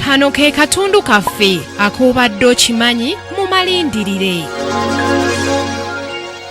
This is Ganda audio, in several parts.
kano ke katundu kaffe ak'obadde okimanyi mu malindirire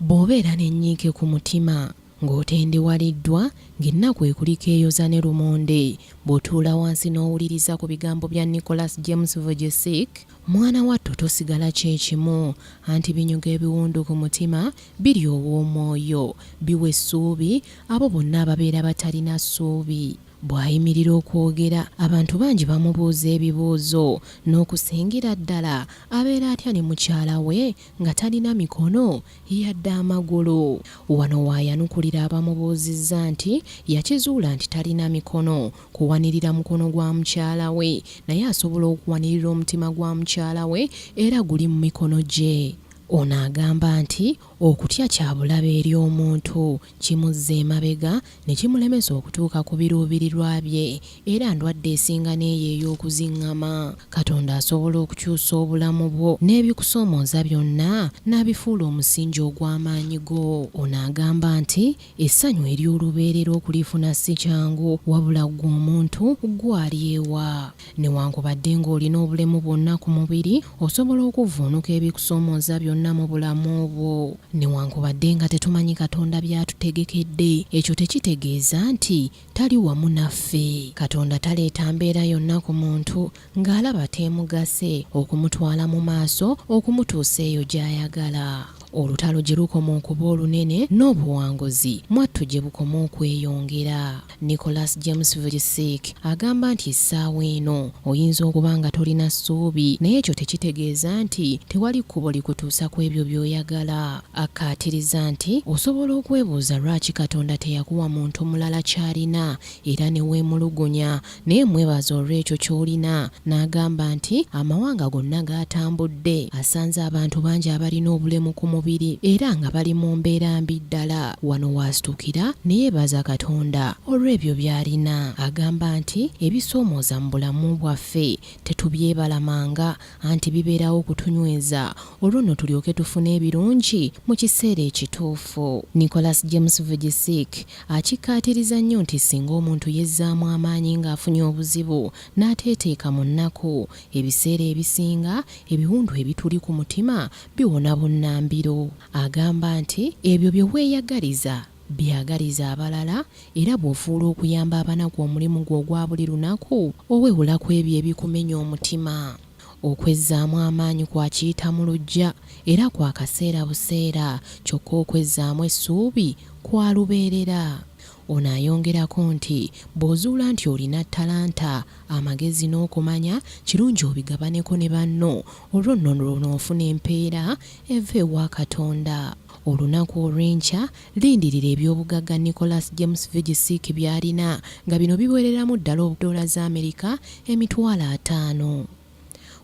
bw'obeera n'ennyiike ku mutima ng'otendewaliddwa ng'ennaku ekulika eyoza ne lumonde bw'otuula wansi n'owuliriza ku bigambo bya nicholas james vojesic mwana wattu tosigala kyekimu anti binyuga ebiwundu ku mutima biri ow'omwoyo biwa essuubi abo bonna ababeera batalina ssuubi. Bw'ayimirira okwogera, abantu bangi bamubuuza ebibuuzo n'okusingira ddala abeera atya ne mukyala we nga talina mikono yadde amagulu. Wano w'ayanukulira abamubuuzizza nti yakizuula nti talina mikono kuwanirira mukono gwa mukyala we naye asobola okuwanirira omutima gwa mukyala we era guli mu mikono gye. Ono agamba nti Okutya kya bulabe eri omuntu, kimuzza emabega ne kimulemesa okutuuka ku biruubirirwa bye, era ndwadde esinga n'eyo ey'okuzing'ama. Katonda asobola okukyusa obulamu bwo n'ebikusoomooza byonna n'abifuula omusingi ogw'amaanyi go. Ono agamba nti, Essanyu ery'olubeerera okulifuna si kyangu, wabula ggwe omuntu ggwe alyewa? Newankubadde ng'olina obulemu bwonna ku mubiri, osobola okuvvuunuka ebikusoomooza byonna mu bulamu bwo. Newankubadde nga tetumanyi Katonda by'atutegekedde, ekyo tekitegeeza nti Tali wamu naffe. Katonda taleeta mbeera yonna ku muntu ng'alaba teemugase, okumutwala mu maaso okumutuusa eyo gy'ayagala. Olutalo gye lukoma okuba olunene, n'obuwanguzi mwattu gye bukoma okweyongera. Nicholas James Vujicic agamba nti essaawa eno oyinza okuba nga tolina ssuubi, naye ekyo tekitegeeza nti tewali kkubo likutuusa ku ebyo by'oyagala. Akkaatiriza nti osobola okwebuuza lwaki Katonda teyakuwa muntu mulala ky'alina era ne weemulugunya, naye mwebaza olw'ekyo ky'olina. N'agamba nti, Amawanga gonna g'atambudde, asanze abantu bangi abalina obulemu ku mubiri era nga bali mu mbeera mbi ddala. Wano w'asitukira ne yeebaza Katonda olw'ebyo by'alina. Agamba nti, Ebisoomooza mu bulamu bwaffe tetubyebalamanga, anti bibeerawo kutunyweza olwo nno tulyoke tufune ebirungi mu kiseera ekituufu. Nicholas James Vujicic akikkaatiriza nnyo nti ssinga omuntu yezzaamu amaanyi ng'afunye obuzibu n'ateeteeka mu nnaku, ebiseera ebisinga ebiwundu ebituli ku mutima biwona bunnambiro. Agamba nti, Ebyo bye weeyagaliza Byagaliza abalala era bw'ofuula okuyamba abanaku omulimu gwo ogwa buli lunaku, owewula ku ebyo ebikumenya omutima. Okwezzaamu amaanyi kwa kiyita mu luggya era kwa kaseera buseera kyokka okwezzaamu essuubi kwa lubeerera. Ono ayongerako nti, bw'ozuula nti olina ttalanta, amagezi n'okumanya kirungi obigabaneko ne banno olwo nno lw'onoofuna empeera eva ewa Katonda. Olunaku olw'enkya, lindirira eby'obugagga Nicholas James Vujicic by'alina nga bino biwereramu ddala doola za Amerika emitwalo ataano.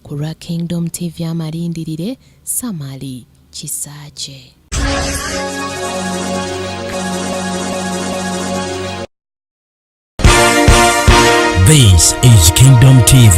Ku lwa Kingdom TV amalindirire, Samali Kisaakye. This is Kingdom TV.